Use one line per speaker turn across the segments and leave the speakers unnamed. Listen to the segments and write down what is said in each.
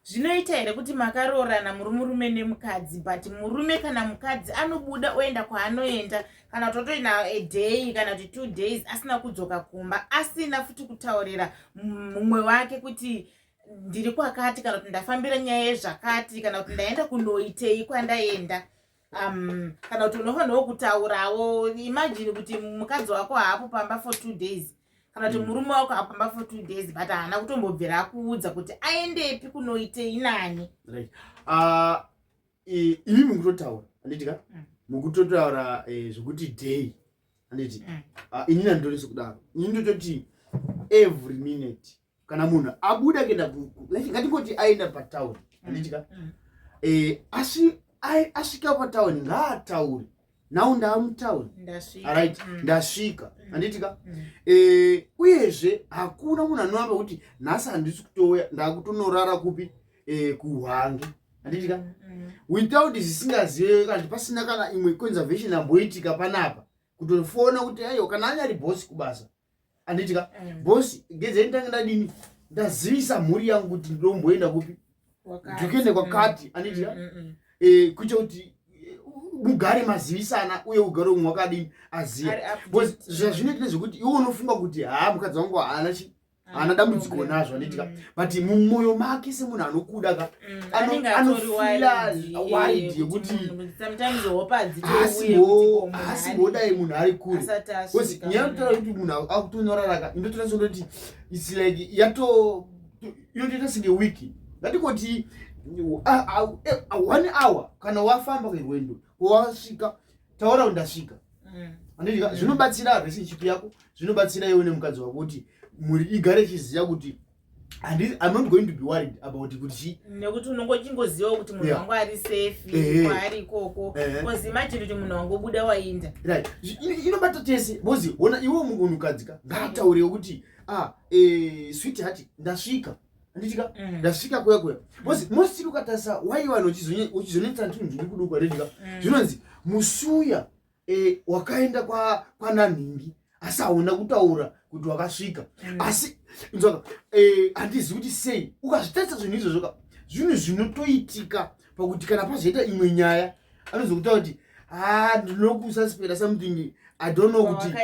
zvinoita here kuti makaroorana muri murume nemukadzi but murume kana mukadzi anobuda oenda kwaanoenda kana kuti otoina a day kana kuti two days asina kudzoka kumba asina futi kutaurira mumwe wake kuti ndiri kwakati kana kuti ndafambira nyaya yezvakati kana kuti ndaenda kunoitei kwandaenda um, kana kuti unofanirwa kutaurawo imagine kuti mukadzi wako haapo pamba for two days kana kuti mm. murume wako apamba for two days but haana kutombobvira akuudza kuti aendepi kunoitei nani right.
uh, imi mukutotaura anditi ka mm. mukutotaura eh, zvekuti day anditi mm. uh, inini anditoreso kudaro ini ndototi every minute kana munhu abuda kuenda ngatingoti aenda patown anditika mm, mm. eh, asi asvika patown ngaataure now ndaamutown arit mm. ndasvika anditika eh, uyezve hakuna munhu anovamba kuti nhasi handisi kutouya ndakutonorara kupi eh, kuhwange anditika without zvisingazive kanti pasina kana imwe conservation amboitika panapa kutofona kuti aiwa kana anyari bosi kubasa anditi ka mm. boss ngedzeni tange ndadini ndazivisa mhuri yangu kuti ndomboenda kupi ndikuende kwakati anditi ka mm, mm, eh, kuita kuti mugare mazivisana uye ugare umwe wakadini aziva zvazvinoitira zvekuti iwe unofunga kuti haa mukadzi wangu haana chi haana dambudziko nazvo anditika but mumwoyo make semunhu anokuda ka yekutinasimbodai munhu ari kure bcause nyaya yekutaura kuti munhu akutonyoraraka indotoita sendoti its like yato inotoita senge wiki ngatikoti one hour kana wafamba kerwendo wasvika taura kuti ndasvika mm. andidika mm. zvinobatsira relationship yako zvinobatsira iwe nemukadzi wako kuti mhuri igare ichiziva kuti and i'm not going to be worried about kuti chii nekuti unongo chingoziva
kuti munhu wangu ari safe kwaari ikoko bcause imagine kuti munhu wangu obuda wainda right
inobata tese bcause ona iwe munhukadzi ka ngaataure kuti ah eh, swit hati ndasvika anditika mm. ndasvika kuya kuya bcause mm. mostili ukatarisa waivanhu uchizonetsa ntunhu zviri kudukwa redika mm. zvinonzi musuya e, wakaenda kwa kwananhingi asi hauna kutaura kuti wakasvika mm. asi nzwaka e, handizivi kuti sei ukazvitarisa zvinhu izvozvo ka zvinhu zvinotoitika pakuti kana pazoita imwe nyaya anozokuta kuti ha ah, ndinokusaspera something i don't know kuti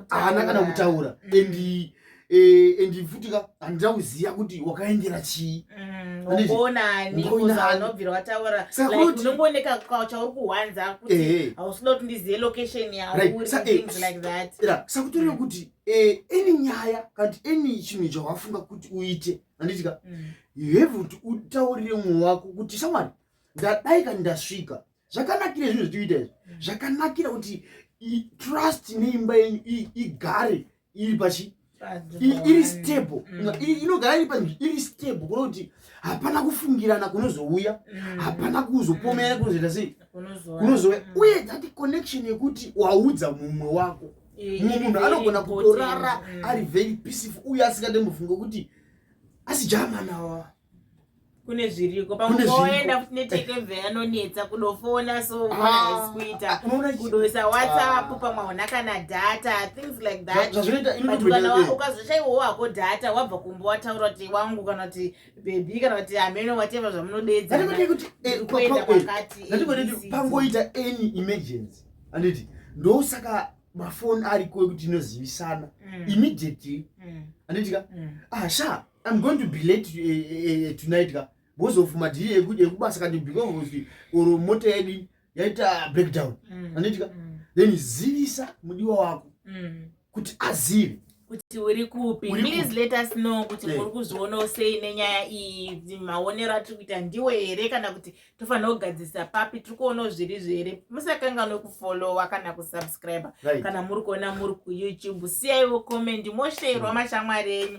haana kana kutaura mm. and eh, and futi ka handida kuziva kuti wakaendera chii mm, onanianobvira
wataura unongooneka chauri kuhwanza kuti eh, eh. hausida kuti ndizive location yaurisakutoreva mm. kuti
any nyaya kana kuti any chinhu chawafunga kuti uite handiti ka mm. you have kuti utaurire mumwe wako kuti shamwari ndadai ka ndasvika zvakanakira zvinhu zvitikuita izvi zvakanakira kuti trust neimba yenyu igare iri pachi iri stable mm. inogara iri panzvi iri stable kuno kuti hapana kufungirana kunozouya mm. hapana kuzopomerana kunozoita sei kunozouya mm. uye that connection yekuti waudza mumwe wako mumwe munhu anogona kutorara ari very peaceful uye asingatembofunga kuti asi jamanawa
kune zviriko pakuenda kunetekeve anonetsa kudofona so ah, kuita kudoisa whatsapp ah. pamwe hauna kana data things like thatbut ukazoshaiwawo hako data wabva kumba wataura kuti wangu kana kuti bebi kana kuti amene wateva zvamunodeedzapangoita
eh, eh, any emergency anditi ndosaka mafoni ariko ekuti inozivisana mm. immediately mm. anditika mm. asha ah, I'm going to be late uh, uh, uh, tonight ka because of madhiri ekubasa kati because of or mota yedu yaita breakdown mm. anditika mm. then zivisa mudiwa wako mm. kuti azive kuti uri
kupi please let us know kuti muri kuzvionawo sei nenyaya iyi maonero atiri kuita ndiwe here kana kuti tofanira kugadzirisa papi tiri kuonawo zviri zvere musakanganwe kufollowa kana kusubscribe kana muri kuona muri kuyoutube siyaiwo komendi mosheerwa mm. mashamwari enyu